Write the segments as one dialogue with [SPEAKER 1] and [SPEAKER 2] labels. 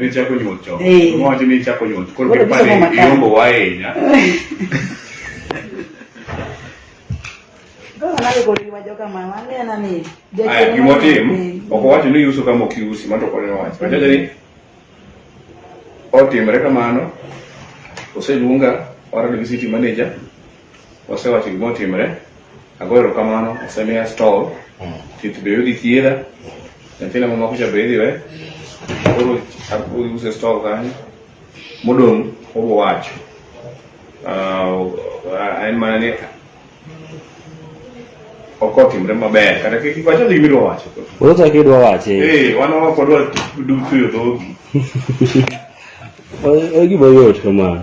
[SPEAKER 1] Ne chako nyuol chon. Eh. Mama wacho ni chako nyuol. Koro Koro pipani gisomo matek. iombo wa ahinya.
[SPEAKER 2] Aya, gima otim, ok owacho ni iuso kama ok iusi, mano to koni owacho. Wacho ni otimre kamano, oseluonga warado gi city manager, Osewacho gima otimre, agoyo erokamano, osemiya stol, tich be yudi thiedha, nyathina ma makocha be idhi we, koro abiro use stol kanyo, modong' obiro wacho. Ah, en mana ni ok otimre maber, kata kik iwach ni gima idwa wacho. Koro chak idwa wache.
[SPEAKER 3] Eh, wan ok wadwa
[SPEAKER 2] du- tuyo dhogi. O-
[SPEAKER 3] o Gima yot kama.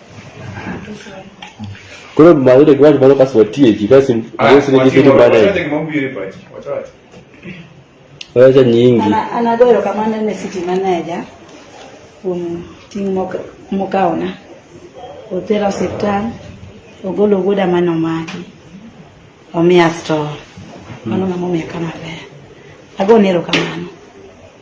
[SPEAKER 3] Koro mawude gwaj mano kas watieki kasi wesi ni gibidi bana. Wacha nyingi. Ana ana goyo kamano
[SPEAKER 4] ne city manager kuom ting' mokawona. Otera osiptal, ogolo wuoda mano maki. Omiya store. Mano ng'ama omiya kama ber. Agone erokamano.